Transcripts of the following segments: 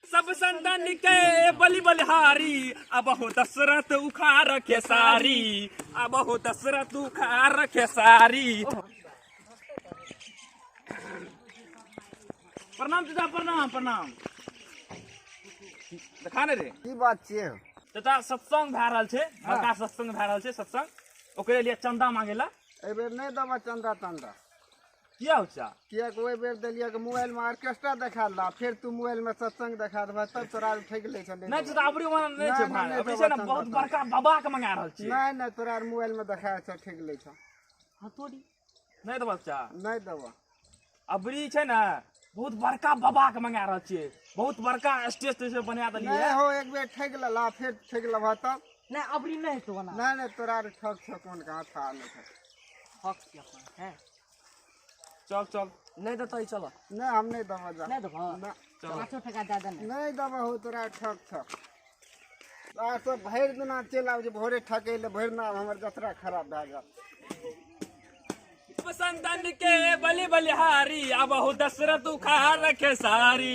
सब संतन के बलि बलिहारी अब हो दशरथ उखार के सारी अब हो दशरथ उखार के सारी प्रणाम चाचा प्रणाम प्रणाम देखा ने रे की बात छियै चाचा सत्संग भए रहल छै बड़का सत्संग भए रहल छै सत्संग ओकरे लिए चंदा मांगे ला एहि बेर नहि देबऽ चंदा तंदा किया उचा किया को ओइ बेर देलिया के मोबाइल में ऑर्केस्ट्रा देखा ला फिर तू मोबाइल में सत्संग देखा देबा तब तोरा उठै गेलै छले नै त अबरी मन नै छै भाई अबरी छै न बहुत बड़का बाबा के मंगा रहल छी नै नै तोरा मोबाइल में देखा छ ठीक गेलै छ हां तोरी नै देबा चा नै देबा अबरी छै न बहुत बड़का बाबा के मंगा रहल छी बहुत बड़का स्टेज ते बना देलिए नै हो एक बेर ठेक ला फिर ठेक लबा तब नै अबरी नै तो बना नै नै तोरा ठक छ कोन कहां था नै ठक ठक के अपन है चल चल नहीं देता ही चलो ना हम नहीं दबा जा नहीं देबो ना चल पाँचो टका दे देने नहीं दबा हो तोरा ठक ठक आ तो भरि दिना चलि आब जे भोरे ठकै ले भरि दिना हमर जतरा खराब भए गेल संतन के बलि बलिहारी अब हो दशरथ उखाड़ रखे सारी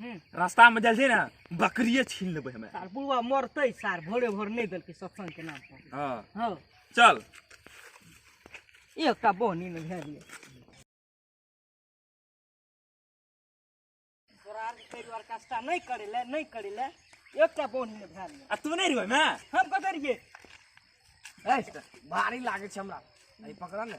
हूँ। रास्ता में जाइ छै ने बकरिए छीन लेबै हमे सार बुढ़वा मरतै सार भोरे भोर नहि देलकै सत्संग के नाम पर हँ हँ चल एकटा बहनी ने भए गेलै तोरा आरके ताहि दुआरे कष्टा नहि करै लए नहि करै लए एकटा बहनी ने भए गेलै आ तू नहि रहबै मे हम कतऽ रहियै भारी लागै छै हमरा अरे पकड़ा ने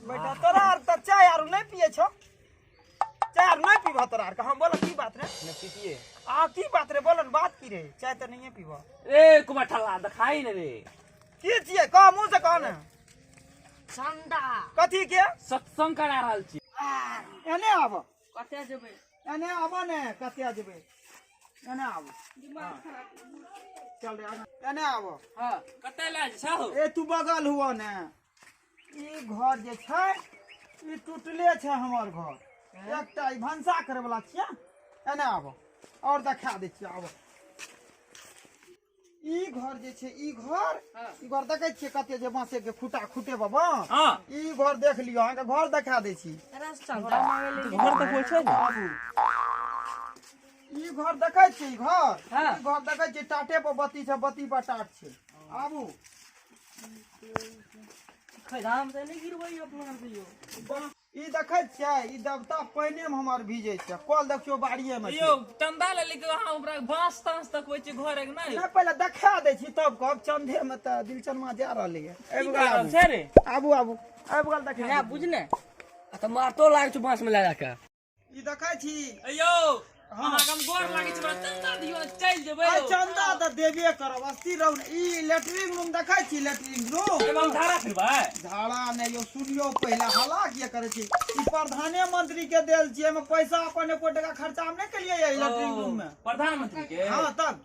बैठा तोरा आर तऽ चाय आर नहि पिए छौ चाय आर नहि पीबह तोरा आर हम बोल की बात रे न पीतिए आ की बात रे बोलन बात की रे चाय तऽ नहिए पीबह ए कुमार ठल्ला देखाई ने रे की छियै कह मुँह से कह ने ठंडा कथी के सत्संग करा रहल छी एने आबह कतऽ जेबै एने आबऽ ने कतऽ जेबै एने आबऽ दिमाग खराब चल रे आगा। एने आबऽ हाँ कतऽ लए जाइ छहो ए तू बगल हुआ ने ई घर जे छै ई टूटले छै हमर घर एकटा ई भनसा करे वाला छियै एने आबऽ और देखा दै छियै आबऽ ई घर जे छै ई घर हाँ। ई घर देखै छियै कते जे बाँसे के खूटा खूटे बाबा हाँ। ई घर देख लियो अहाँके घर देखा दै छी रास्ता घर देखबै छै ने ई घर देखै छियै ई घर हाँ। ई घर देखै छियै टाटे पर बत्ती छै बत्ती पर टाट छै आबू खैराम से नहीं गिरबै अपना कहियो ई देखै छियै ई देवता पानिए में हमर भीजै छै कल देखियो बाड़िए में यौ चंदा ले लिख अहाँ ओकरा बांस तांस तकबै छी घर एक नै नै पहिले देखा दै छी तब कहब चंदे में त दिलचनमा जा रहलै है आबि गेल छै रे आबू आबू आबि गेल देखा नै बुझने आ त मारतो लाग छ बांस में लगा के ई देखै छी ए यौ अहाँ के हम गोर लागै छै बड़ा चंदा दियो ने चल जेबै आइ यौ चंदा तऽ देबे करब अस्थिर रहू ने। ई लेटरिन रूम देखै छी लेटरिन रूम एमे हम धारा फिरबै झाड़ा ने यो सुनियो पहिले हला किया करे छी ई प्रधाने मंत्री के देल छी एमे पैसा अपन एको टका खर्चा हम नहीं केलिए ये लेटरिन रूम में प्रधानमंत्री के हाँ तब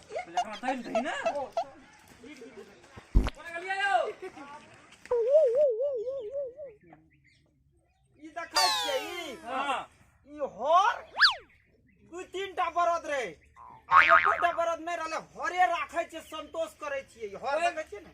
ई देखै छियै ई हाँ ई हर दू तीन टा बरद रहे आ एको टा बरद नहि रहले हरे राखै छियै संतोष करै छियै हर देखै छियै ने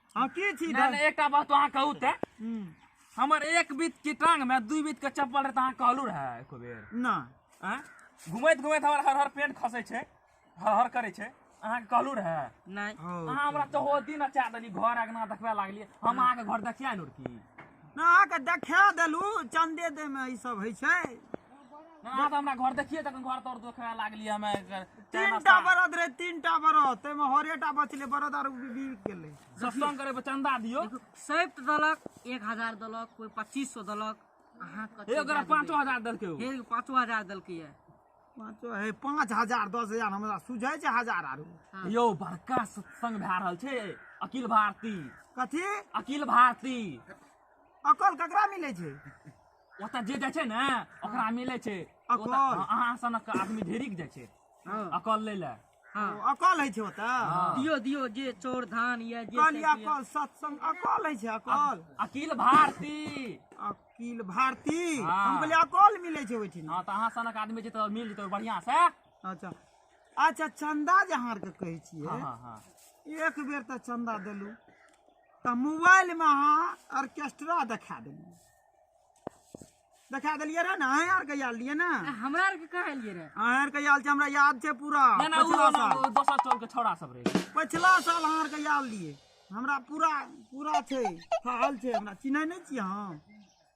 हाँ की छी नहि नहि एकटा बात अहाँ कहू तऽ हम्म, हमर एक बीत के टांग में दू बीत के चप्पल रहै तऽ अहाँ कहलू रहै एको बेर ना आँय? घुमैत घुमैत हमर हर हर पेंट खसै छै हर हर करै छै अहाँके कहलू रहै नहि हौ, अहाँ हमरा तऽ ओ दिन अचा देली घर अगना देखबे लागलियै हम अहाँके घर देखिया लुर की ना अहाँके देखा देलू चंदे दे में ई सब होइ छै ना तो हमरा घर देखिए तखन घर तोड़ देखे लागली हमे तीनटा बरद रहे तीनटा बरद ताहिमे हरेटा बचलै बरद आर बिक गेलै सत्संग करे पर चंदा दियो सैत दलक एक हजार दलक कोई पच्चीस सौ दलक अहाँ कते हे ओकरा दए देबै? पाँचो हजार देलकै ओ हे पाँचो हजार दलकै ये पाँचो हे पाँच हजार दस हजार हमरा सुझै छै हजार आरो यौ बड़का सत्संग भए रहल छै अखिल भारती कथी अखिल भारती अकल ककरा मिलै छै ओतऽ जे जाइ छै ने ओकरा मिलै छै अकल। ओतऽ अहाँ सनक आदमी ढेरिक जाइ छै हँ अकल लै लए हँ ओ अकल होइ छै ओतऽ दियो दियो जे चोर धान या जे कहली सब दियो। अकल सत्संग अकल होइ छै अकल अकील भारती अकील भारती हाँ। हम कहली अकल मिलै छै ओहिठिन हँ तऽ अहाँ सनक आदमी जे तऽ मिल जेतै बढ़ियाँ से अच्छा अच्छा चंदा जे अहाँ आरके कहै छियै हँ हँ हँ एक बेर तऽ चंदा देलू तऽ मोबाइल मे अहाँ ऑर्केस्ट्रा देखा देलू देखा देलियै रहे ने अहाँ आर के आयल रहियै ने आ, हमरा आरके कहाँ एलियै रे अहाँ आर के आयल छै हमरा याद छै पूरा ना ना उ पछिला ना, साल उ दोसर टोल के छौड़ा सब रहे पछिला साल अहाँ आर के आयल रहियै हमरा पूरा पूरा छै हाल छै हमरा चिन्है नहि छियै अहाँ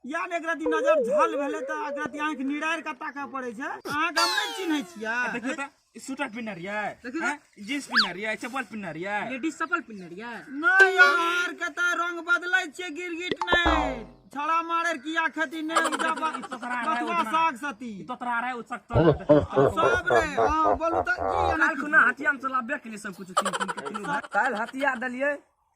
या ने एक रति नजर झल भेलै तऽ एक रति आँखि निरारि कऽ ताकऽ पड़ै छै अहाँके हम नहि चिन्है छियै देखियौ तऽ ई स्वेटर पिन्ह रिया देखी ना। जींस पिन्ह रिया चप्पल पिन्ह रिया लेडीज चप्पल पिन्ह रिया नहीं यार कता रंग बदलै छियै गिरगिट नहीं छड़ा मारे की आखति ने उजा बा- तोहरा आरा बथुआ उतना। साग सती ई तो तोरा रे उ सख्त सब रे हां बोलू त की काल खुना हथियाम चलाबे के लिए सब कुछ तीन तीन के तीनों भाई। काल्हि हथिया देलियै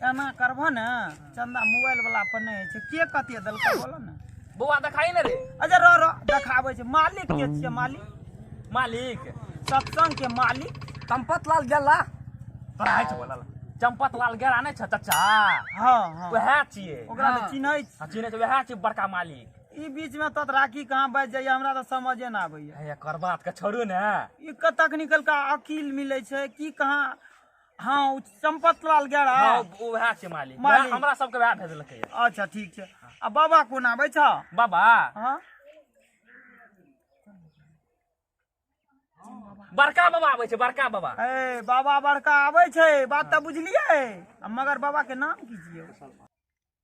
एना करबह ने चंदा मोबाइल वाला पर नहीं है के कते देलकै बोलो ने बौआ देखाई ने रे अच्छा रो रो देखाबै छै मालिक के छियै मालिक मालिक सत्संग के मालिक चंपत लाल गेला तोरा है छै बोला चंपत लाल गेला नै छ चाचा हां हां वह छियै ओकरा हाँ। चिन्है छी हाँ, चिन्है छै वह छियै बड़का मालिक ई बीच में तत राखी कहां बज जाय हमरा त समझे न आबै है एकर बात के छोड़ू ने ई कतक निकल का अकील मिलै छै की कहां हाँ ओ चंपत लाल गेरा हाँ, ओ वएह छै मालिक मालिक। वएह हमरा सबके वएह भेजलकै यऽ। अच्छा ठीक छै आ बाबा कोन आबै छ बाबा हाँ बड़का बाबा आबै छै बड़का बाबा ए बाबा बड़का आबै छै बात तऽ बुझलियै आ मगर बाबा के नाम की छियै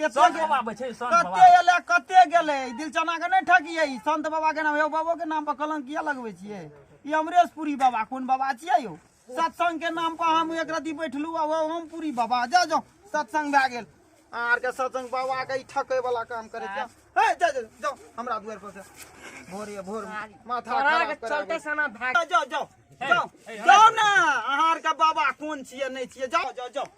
संत बाबा आबै छै संत बाबा कते एलै कते गेलै ई दिलचना के नहि ठकियै ई संत बाबा के नाम यौ बाबो के नाम पर कलंक किया लगबै छियै ई अमरेशपुरी बाबा कोन बाबा छियै यौ सत्संग के नाम पर हम एक रति बैठलू आ ओ ओमपुरी बाबा जा जाओ सत्संग भए गेल अहाँ आरके सत्संग बाबा के ई ठकै वाला काम करै छै हे जा जा जाओ हमरा दुआर पर से भोर ये भोर मे माथा तोरा खराब के करा चलते देब। सना भाग जाओ जाओ जाओ जाओ जाओ ने अहाँ आरके बाबा कोन छियै नहि छियै जाओ जाओ जाओ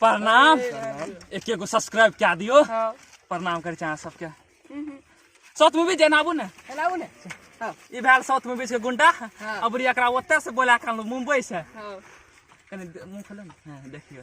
प्रणाम एक एगो सब्सक्राइब कए दियौ हँ प्रणाम करै छी अहाँ सबके साउथ मूवी जेना आबू ने एनाउ ने हँ ई भेल साउथ मूवी के गुंडा हँ। अबरी एकरा ओतय से बोला के अनलहुँ मुंबई से हँ कनी दे- मुंह खोलो ने हँ, देखियौ